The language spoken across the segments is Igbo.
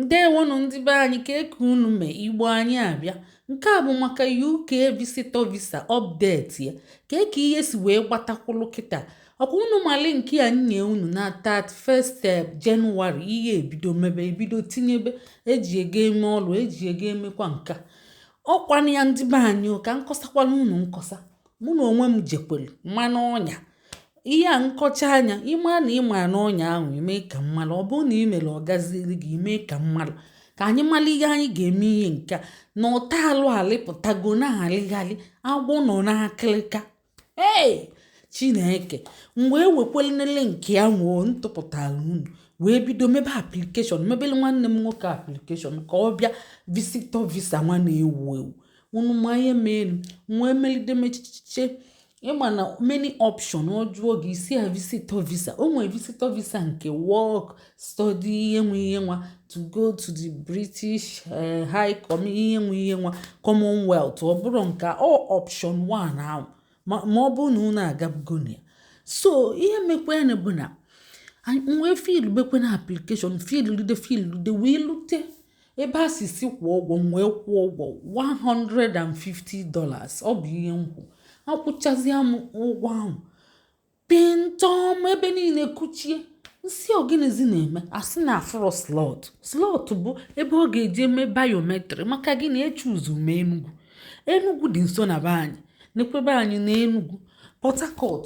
Ndewonụ ndị be anyị kee ka unu mee igbo anyị abịa nke a bụ maka UK visitor visa update ya kee ka ihe si wee gbata kwụlụ kịta ọkwa unu malụ nke a m nye unu na 31st eh, Jenụwarị ihe ebido mebe ebido tinyebe eji ego eme ọlụ eji ego emekwa nka ọ kwanụ ya ndị be anyị ka m kọsakwala unu nkọsa mụ na onwe m jekwere ma n'ọnya ihe a m kọchaa nya ị ma na ị ma n'ọnya ahụ i mee ka m malụ ọ bụrụ na ị mere ọ gaziri gị i mee ka m malụ ka anyị mara ihe anyị ga-eme ihe nke a na-ata alụ alịpụtago na-alịghalị agwọ nọ n'akịrịka ee chineke mgbe ewekwalenele nke ahụ m tụpụtara unu wee bido mebe application mebelu nwanne m nwoke application ka ọ bịa visitor visa nwa na-ewu ewu unu ma ihe meenu m wee melide mechiche ị ma na many option ọ jụọ gị ị sị ya visitor visa o nwere visitor visa nke work study ihe nwa ihe nwa to go to the british eh, high com ihe nwa ihe nwa commonwealth ọ bụrụ nke ọ option one ahụ ma ọ bụrụ na unu agabugo na ya so ihe mekwenụ bụ na m wee fill bekwe na application fill lide fill lide wee lute ebe a sị sị kwụọ ụgwọ m wee kwụọ ụgwọ $150 ọ bụ ihe m kwụ akwụchazịa m ụgwọ ahụ pịntọm ebe niile kuchie m sị ọ gịnịzi na-eme a sị na afụrọ slot slot bụ ebe ọ ga-eji eme biometric maka gịnị echoose m enugwu enugwu dị nso na be anyị nekwe be anyị na enugwu port harcourt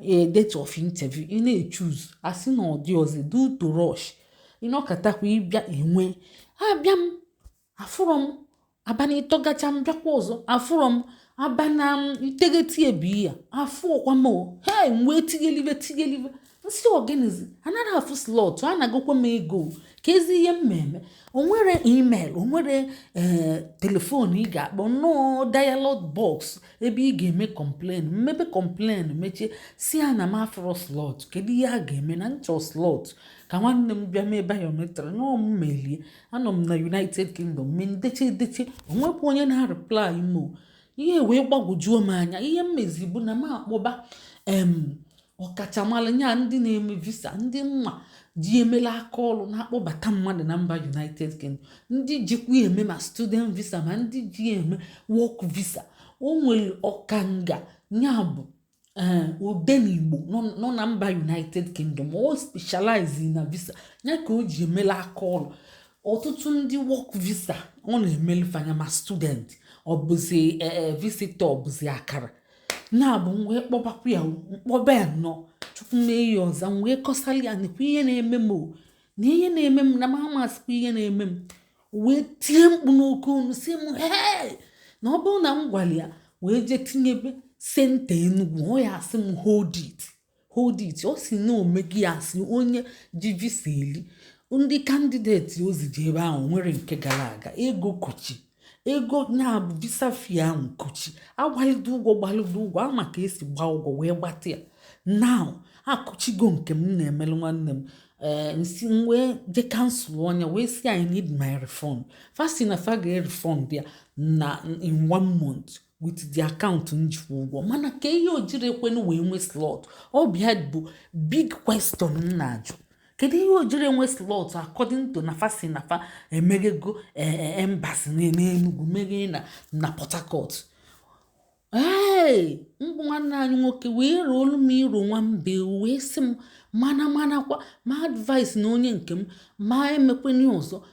a date of interview ị na-echoose a sị na ọ dịrọzi due to rush ị nọkatakwa ị bịa enwe abịa m afụrọ m abanị ịtọ gachaa m bịakwa ọzọ afụrọ m abanị iteghete a bịa afụrọkwa m m wee tighelibe tighelibe m sị ọ gịnịzi anaghị afụ slot anagokwa m ego keezi ihe m na-eme o nwere email o nwere ee eh, telephone ị ga-akpọ nnọọ dialog box ebe ị ga-eme complain m mebe complain mechie sị ya na m afụrọ slot kedu ihe a ga-eme na m chọ slot ka nwanne m bịa mee biometric na m melie anọ m na united kingdom m dechee edeche o nwekwa onye na-areply m oo ihe wee gbagwojuo m anya ihe m mezi bụ na m akpọba em ọkachamara ya ndị na-eme visa ndị m ma ji emela aka ọrụ na-akpọbata mmadụ na mba united kingdom ndị jikwa eme ma student visa ma ndị ji eme work visa o nwere ọkanga ya bụ eh, odenigbo nọ na mba united kingdom o specialize na visa ya ka o ji emela aka ọrụ ọtụtụ ndị work visa ọ na-emelu fa nya ma student ọ bụzi eh, eh, visitor ọ bụzi akara na-abụ m wee kpọbakwa ya o m kpọba ya nnọọ chukwu mee ya ọ za m wee kọsara ya nekwa ihe na-eme m o na ihe na-eme m na m amazikwa ihe na-eme m o wee tie mkpu n'oke olu sị m hee na ọ bụrụ na m gwara ya wee jee tinyebe senta enugwu ọ ya-asị m hold it hold it ọ sị na omegi ya sị onye ji visa eli ndị kandideti o zije ebe ahụ nwere nke gara aga ego kuchi ego nya bụ visa fee ahụ kuchi a gbalịdo ụgwọ gbalịdo ụgwọ a ma ka e si gba ụgwọ wee gbata ya now akụchigo nke m na-emelu nwanne m ee eh, m sị m wee je kansụlọ nya wee sị i need my refund fa sị na fa ga-erefund ya na in one month with the account m ji kwụ ụgwọ mana ka ihe o jiri ekwenu wee nwee slot ọ bịa bụ big question m na-ajụ kedu ihe o jiri enwe slot according to na fa sị na fa emeghego e, e, embassy n'Enugu meghe na na Port Harcourt ee mbụ nwanne anyị nwoke wee roolu m iro nwa mbe wee sị m mana manakwa ma advice na onye nke m ma emekwene ọzọ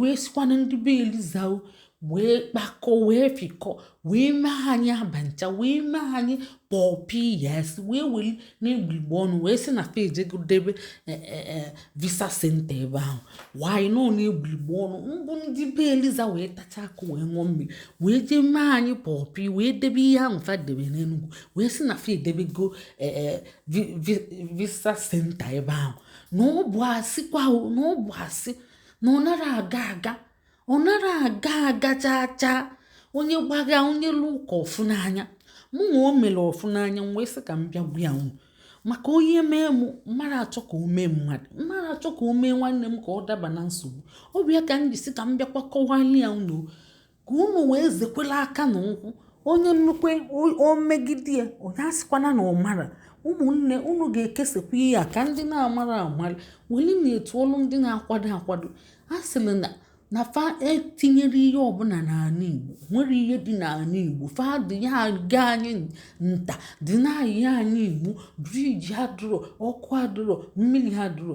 wee sịkwa na ndị be eliza o wee kpakọ wee fikọ wee mee anyị abancha wee mee anyị pọpi yes wee weli n'egbuligbo ọnụ wee sị na fa ejego debe e, e, e, visa senta ebe ahụ wanyị nọ n'egbuligbo ọnụ mbụ ndị be eliza wee tacha akụ wee ṅụọ mmiri wee jee mee anyị pọpi wee debe ihe ahụ fa debe n'enugwu wee sị na fa edebego visa senta ebe ahụ na ọ bụ asị kwa na ọ bụ asị na ọ nara aga aga ọ nara aga aga chaa chaa onye gbagha onye lụ ụka ọ fụ n'anya mụ nwa o mere ọ fụ n'anya m wee sị ka m bịa gwa ya unu maka onye mee m m mara achọ ka o mee mmadụ m mara achọ ka o mee nwanne m ka ọ daba na nsogbu ọ bụ ya ka m ji sị ka m bịakwa kọwara ya unu ka unu wee zekwela aka na ụkwụ onye nnukwu o megide ya onye asịkwana na ọ mara ụmụnne unu ga-ekesakwa ihe a ka ndị na-amara amara weli na-etu ọlụ ndị na-akwado akwado a sịrị na na fa etinyere ihe ọbụla n'ala igbo nwere ihe dị n'ala igbo fa dị ya aga anyị nta dị na-ayị anyị imo briji adụrọ ọkụ adụrọ mmiri adụrọ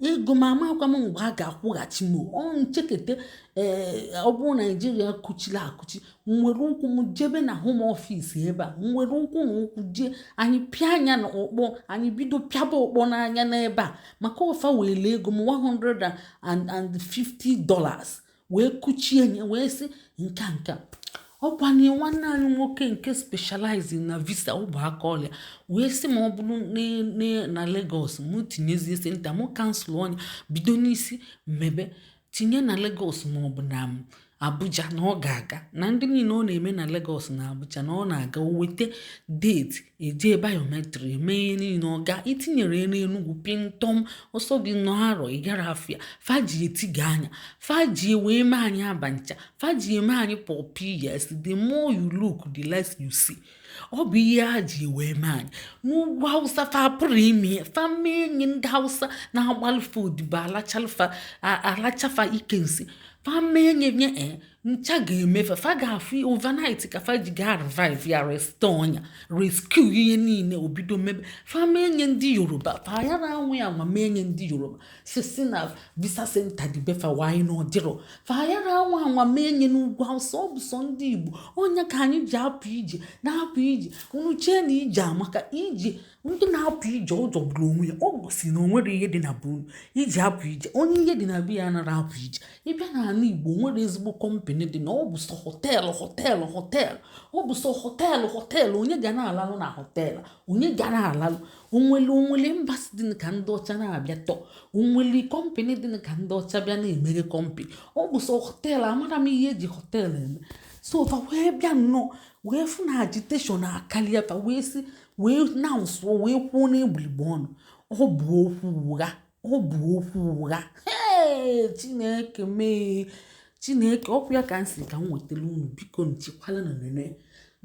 ego m amakwa m mgbe a ga-akwụghachi m ọ nchekete ee ọ bụrụ naijiria kuchiri akuchi m were ụkwụ m jebe na home office ebe a m were ụkwụ na ụkwụ jee anyị pịa anya na ọkpọ anyị bido pịaba ọkpọ n'anya n'ebe a maka ọ fa were ego m 150 dollars wee kuchie nye wee sị nka nka ọkwa na nwanne anyị nwoke nke specializing na visa ọ bụ aka ọlụ ya wee sị ma ọ bụrụ na Lagos mụ tinyezie senta mụ kansụlọ nya bido n'isi mebe tinye na Lagos maọbụ na Abuja na ọ ga-aga na ndị niile ọ na-eme na Lagos na Abuja na ọ na-aga o weta deeti e jee biometric e mee ihe niile ọ ga-etinyere ya n'enugwu pịntọm ọ sọ gị nọ arọ ị gara afịa fa ji eti gị anya fa ji wee mee anyị abancha fa ji eme anyị pọpi yes the more you look the less you see ọ bụ ihe a ji wee mee anyị n'ugwu hausa fa apụrọ ime ya fa mee nye ndị hausa na-agbalụ fa odibo alacha fa ike nsị fa mee enyi nye eh, ncha ga-eme fa fa ga-afụ overnight ka fa ji ga revive ya restọọ nya rescue ihe niile o bido mebe fa mee nye ndị yoruba fa ya na anwụ anwa mee nye ndị yoruba sị sị na visa center dị be fa wanyị na ọ dịrọ fa ya na anwụ anwa mee nye n'ugwu awụsa ọ bụ sọ ndị igbo ọ nya ka anyị ji apụ ije na-apụ ije unu chee na ije amaka ije ndị na-apụ ije ọ jọgburu onwe ya ọ bụ sị na o nwere ihe dị na be unu i ji apụ ije onye ihe dị na be ya anaghị apụ ije ị bịa n'ala igbo nwere ezigbo kọmpanị dị na ọ bụ sọ họteelụ họteelụ họteelụ ọ bụ sọ họteelụ họteelụ onye ga na-alalụ na họteelụ onye ga na-alalụ o nwere o nwere embassy dị ka ndị ọcha na-abịa tour o nwere kọmpanị dị ka ndị ọcha bịa na-emeghe kọmpanị ọ bụ sọ họteelụ amara m ihe e ji họteelụ eme so fa wee bịa nnọọ wee fụ na agitation akarịa fa wee si wee na-asụ wee kwuo na e gbulu igbo ọnụ ọ bụ okwu ụgha ọ bụ okwu ụgha chineke mee chineke ọkwa ya ka m sị ka m wetara unu bikonu chekwala na-enene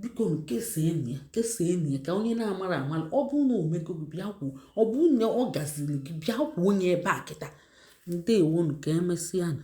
bikonu kesaanụ ya kesaanụ ya ka onye na-amara amara ọ bụ na o mego gị bịa kwuo ọ bụ na ọ gaziri gị bịa kwuo onye ebe a kịta ndewonu ka emesịa na